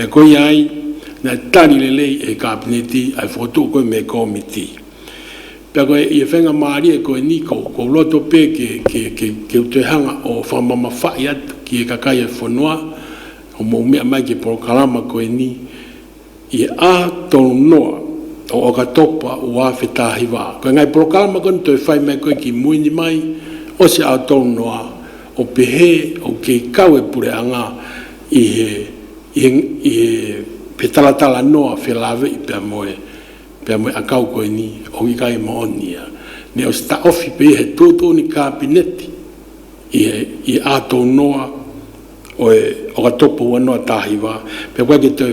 E koia ai, na tari le lei e Kapineti ai fotu koe me Komiti. Pea koe ia whenga maari e koe ni kou, kou roto pe ke, ke, ke, ke utoihanga o whamama whai atu ki e kakai e whanoa, o mou mea mai ke porokarama koe ni, i aha tonu noa o oka topa ua whetahi wa. Koe ngai porokarama koe ni toi whai mai koe ki muini mai, o se ao tonu noa, O pehe, o ke kau e pure anga i he, i he, i he, he talatala noa whe lave'i pea moe, pea moe a kau koe ni, o i kai ma oni ia. Ne o sta ofi pei he toto ni kapineti, i he, i he atou noa, oe, o ka topo ua noa tahi wa, pea koe ke toe,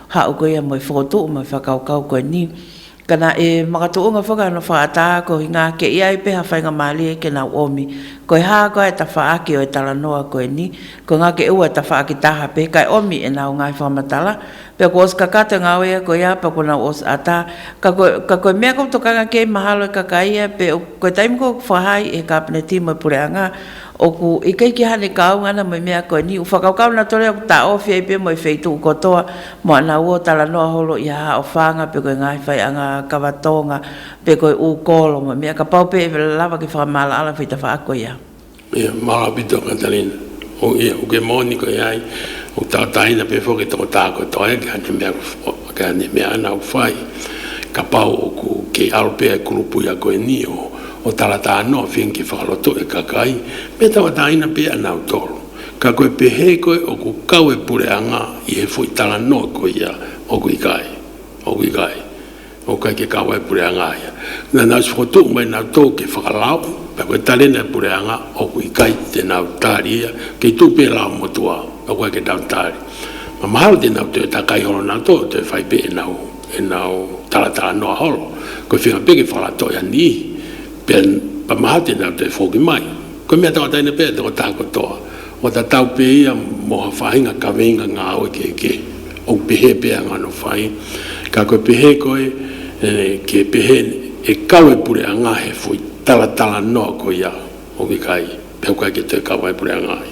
Hau koe ia moe whakotoo moe whakaokao koe ni. Kana e makatoonga whakaano whakataa ko hinga ake ia e peha whainga maali eke nau omi. Koe haa koe e tawha ake oe tala noa koe ni. Koe nga ke ua tawha ake taha pe kai omi e nau ngai whakamatala. Pe ko os ka kate nga oe ia koe ia pe ko nau os ataa. Ka koe ka koe mea koutou kanga kei mahalo e kaka ia pe koe taimi kou whakahaai he kapeneti moe pureangaa. Oku, i kei ki hane kaunga ana moe mea koe ni u whakakau na tore oku ta ofi ai pe moe fei tuku kotoa mo ana uo tala noa holo i haha o whanga pe koe ngahi whai anga kawa tonga pe koe u kolo moe mea ka pau pe e vela lawa ki whakamala ala fei ta whako i a ia malapito Katarina, o ia, u ke moni koe ai u tau tahina pe foki toko takoto ai ki hane mea koe. Ka memea ana o whai, ka pao oku kei Alpea e koropui aku e Nio, o Tarata ano a Finn ki whakarato e Kakai, me taua taina pe a Nautor. Ka koe pehe koe oku kawe pure anga i he fo i tara noa ko ia, oku i kai, oku i kai, o kai ke kawae pure anga a ia. Na nau whakatoo mai nau tou kei whakalao, ka koe tarena e pure anga, oku i kai, tena au tari ia, kei tu pe la motu a, o kai ke nau tari. Ka mahalo tēnā koutou e tā Kaihoro nā tō koutou e whai pē e nau, e nau taratara noa horo, koe whiunga pē kei whakarato e Ani Ihi, pea, ka mahalo tēnā koutou e whōki mai. Koe mea tō ataina pē te otā katoa, o ta tau pē ia mō ha whāhinga ka weinga ngā awe kē kē, ou pehē pē a ngano whai, ka koe pehē koe e kē pehē e kau e pure a ngā he whoi taratara noa koia hoki kai, pea koe ki te kau ai pure a ngā he.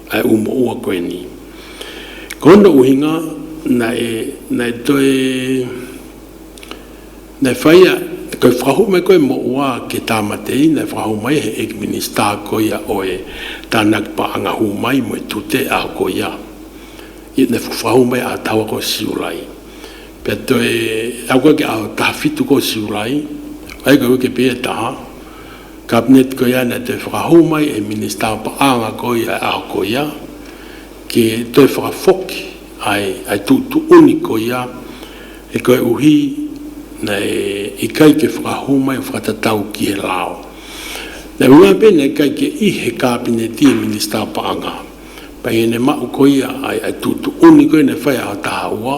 I umaua koe ni. Ko ona uhinga na e, na e toe, na e whaia, koi whakahu mai koe mo oa ke Tamatei, na e whakahu mai he Egg Minister ko ia oe, tana kipa anga hu mai mo e tute a ko ia. Ia na e whakahu mai a taua ko Siurai. Pea toe, au koe ke a tahawhitu ko Siurai, ai koe ke pea taha, Cabinet ko ia nei toi whakahou mai e Minista Pakaanga ko ia e Ahakoia ke toi whakafoki ai ai tuutuuni ko ia e koe uhi nei i kai ke whakahou mai whakatatau ki he lao nei me mai penei kai ke i he Kabineti e Minista Paanga Paiene Mahu ko ia ai ai tuutuuni koe nei whai aha taha ua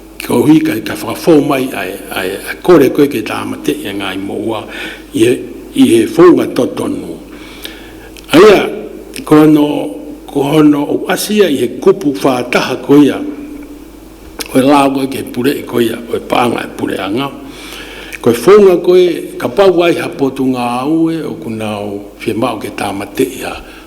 Ki ō hui kai ka whakafou mai ai, ai, ai kore koe kei tāmate, engāi mō ua, i he, i he founga totonu. Aia, ko hono, ko hono o Asia i he kupu whā taha ko ia, koe lā koe kei pure i ko ia, koe pānga e pure anga, koe founga koe, ka pau ai ha potunga aue o kuna o whemao kei tāmate i ha,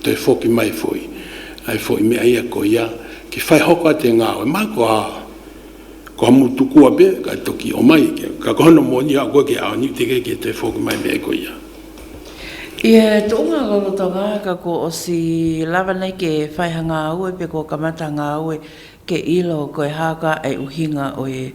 Te Whoki Mai Whoi, ai fo i mea ia ko ia ki whai hoko a te ngawe mai ko a ko a mutu kua be kai toki o mai ke ka ko hono moni a koe ke a niu te ke ke te whoki mai mea ko ia. I a to nga lolo to nga ka ko o si lava nei ke whai ha nga aue pe ko ka mata nga aue ke ilo koe ha ka e uhi nga oe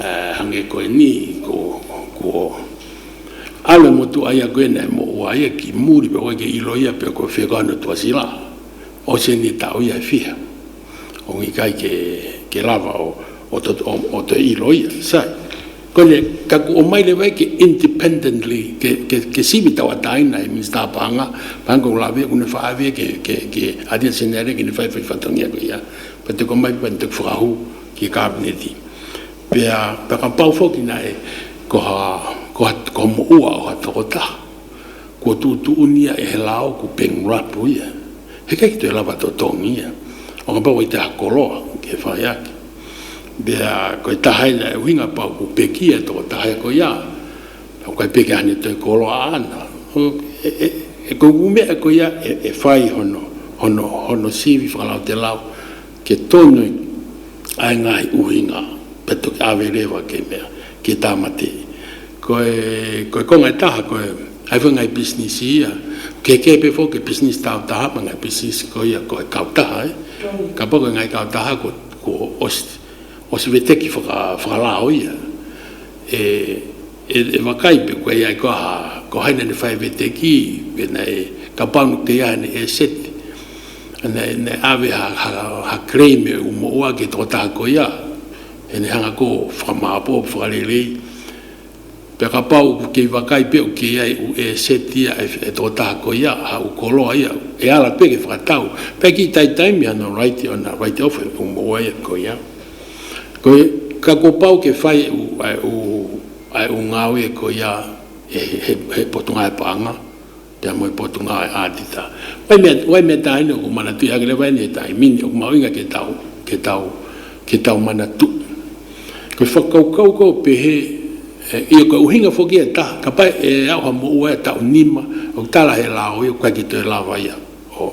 E hange koe ni ko ko Ale motu ai a koe nei mo ua ia ki muri pe koe ke ilo ia pe koe whea koe anu tua si la. O se ni tau ia e whiha. O ngi kai ke ke lava o o to o to ilo ia. Sa koe ne ka ku o mai le wai ke independently ke ke ke sivi tau a tai nei mi sta panga panga ko la via ku ne wha via ke ke ke a dia se ne re ke ne whai whai whatongia ko ia. Pe te ko mai pa te whakahu. ki Kāpineti, pea whakapau hoki nei koha koha moua oha tokota, kua tūtūunia e he la o ku Peng Rapu ia. He kei te lawa to Tongi ia, o nga pau i te Hakoroa ke whai ake. Pea koe tahaina e uhinga pau ku Peki e toko tahae koe ia, o koe Peki ahane toi koroa ana, e koe kumea koe ia e whai hono, hono, hono sivi whakalaute lau, Kei tonu ai ngā uhinga me toki awe rewa kei mea, kei Tāmati. Koe, koe ko ngai taha koe, hai whai ngai business i ia. Kei Keepe whoki business tau taha me ngai business ko ia koe kau taha e. Ka pa koe ngai kau taha ko, ko os, os weteki whaka, whakalao ia. E, e, e wakai pe koe ai ko aha, ko haina ne whai weteki, pena e, ka pau no te aha ne e set. Ene ene awe ha ha krei me u mo oa ke to taha ko ia. Ene hanga ko whakamaapo whakarelei. Pea ka pau ku kei wakai pe u kei ai u e setia e to taha ko ia ha u koloa ia. E ala pe ke whakatau. Pea ki taitai me ana raite ana raite ofe e u mo oa ia ko ia. Ko e ka ko pau ke whai e u ae u ae u ngawe ko ia he he he potonga e paanga. Te Amoe Potunga Ae Atita. Waimea, waimea tahi nei o ku mana tuhi agere wai nei tahi mini o ku mau inga ke tau, ke tau, ke tau mana tu. Ko i whakaukau kau pehe i o ka uhinga foki e ta, ka pai e auha mo ua e tau nima o ku tala he la o i o ku kai ki to e la wai a, o,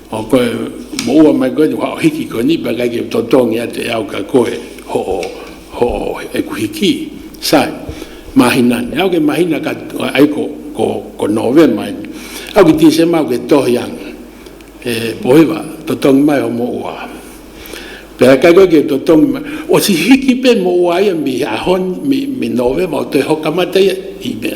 Mo koe, mo ua mai koe te wha o hiki koe ni, peka ike to tongi a te au ka koe, ho o, ho o, e ku hiki, sai, mahina ni, au ke mahina ka, ai ko, ko, ko Novema i, au ki December au ke tohi an, e, pohiwa, to tongi mai ho mo ua. Peka kai koe ke to tongi mai, o si hiki pe mo ua ia mi, a hon, mi, mi Novema o te hoka mata ia, i mea.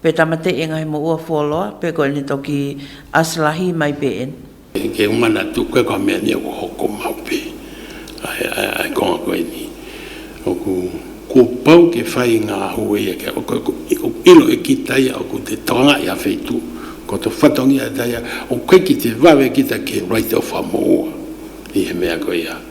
Pe Tamate e ngahi mo ua Foloa, pe ko Enito ki Aslahi mai pe en. Ke u mana tu koe ka mea ni aku hoko mau pe I konga koe ni oku kua pau ke whai i nga ahu eia ke ako aku ilo e ki taia oku te toanga i a Whetu ko to whatongi a taia o koe ki te wawe ki ta ke right ofa mo ua i he mea koe ia.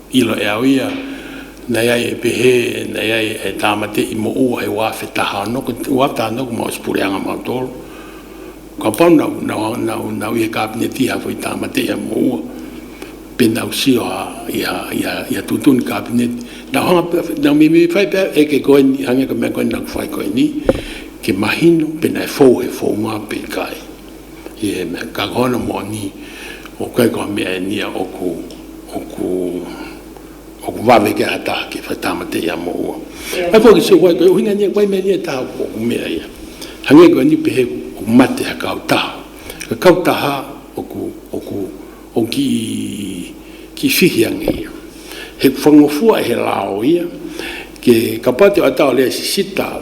I lohe au ia, nei ai e pehe, nei ai e tāmate i mo ua he wā whe taha anō ko te wā tāna ko Maus Pureanga Mau Toro. Ka pau nau, nau, nau, nau i he kāpene tīha whai tāmate ia mo ua, pēnā u sio a, i a, i a, i a Tūtuni kāpeneti, nau hanga pea, nau mimi whai pea e ke koe ni, hanga ka mea koe nau whai koe ni, ke mahino, pēnā he whou, he whou mā pei kai. He mea ka kawana moni, o koe kua mea e nia oku, oku, oku wawe ke ata ake, whai tamate ia mo ua. Ai koe ki siwa koe, uhinga nia koe mea nia taha koe, oku mea ia. Hange koe ni pehe oku mate a kau taha. Ka kau taha oku, oku, oku ki, ki whihi ange ia. He whangofua he la o ia, ke ka patu a tau le sisita,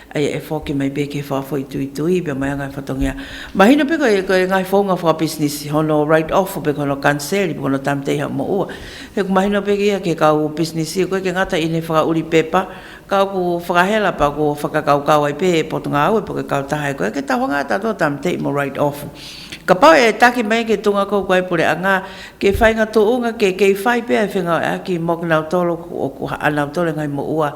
Eia e whao ki mei be ke whao whoi tui tui be mai a ngai whatongia. Mahina be koe koe ngai whao nga whao business i hono write off be kono cancel i be kono time teiha mo ua. He ku mahina be ia ke kau u business i koe ke ngata i ne whaka uri pepa kau ku whakahela pa ku whakakau kau ai be e pot nga au e po ke kau taha e koe ke taho nga tato time tei mo write off. Ka pau e taki mei ke tunga kou ku ai pore a nga ke whai nga to unga ke kei whai be ai whenga o e a ki mo ke nau tolo ku o ku ha a nau tole ngai mo ua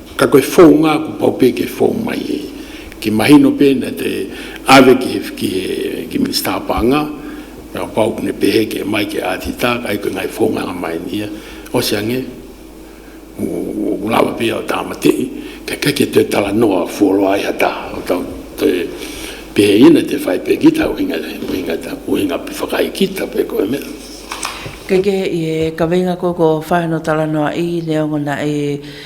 Ka koe fou nga ku pau pe ke fou mai e. Ki mahi no pena te ave ki he whiki he ki minster pa nga, ka pau ku ne pehe ke mai ke ati ta kai koe ngai fou nga nga mai ni a. O se ange, ku lava pe au ta mate i, ka kai ke te tala no a fou loa i hata o tau te pehe ina te fai pe ki tau hinga hinga ta ku hinga pe whakai ki ta pe koe me. Kei ke he i he ka veinga koe ko whae no tala noa i ne o ngona e.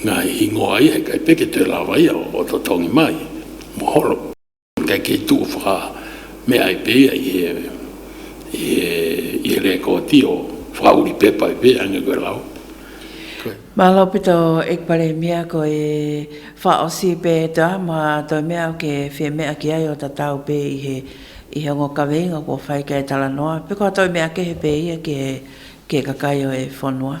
Nga ingoa ia kei peke te rawaia o to tongi mai, mohoro. Kei kei tu whaka mea i peia i he i he rekoti o whaka uri pepa i peia nga koe lao. Koe. Malo pito ekpare mia ko e wha o si pe e ta ma to mea o ke whe mea ki ai o ta tau pe i he i he ngo kawe inga ko whai kei tala noa pe ko to mea ke he pe ia ki he ke kakaio e whonua.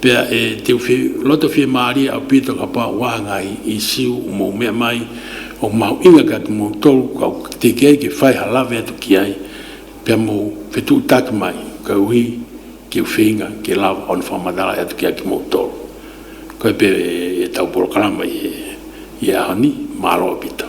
Pea e te uwhi roto whi mārie a Pita ka pā wāhanga i i siu mō mea mai o mahu inga ka tu mō tolu ka tikei ki whai ha lawe atu ki ai pea mō whetū tāki mai ka uhi ki uwhinga ki lava ona wha matarai atu ki ai ki mō tolu koe pea e tau porokarama i e Ahoni mā roa Pita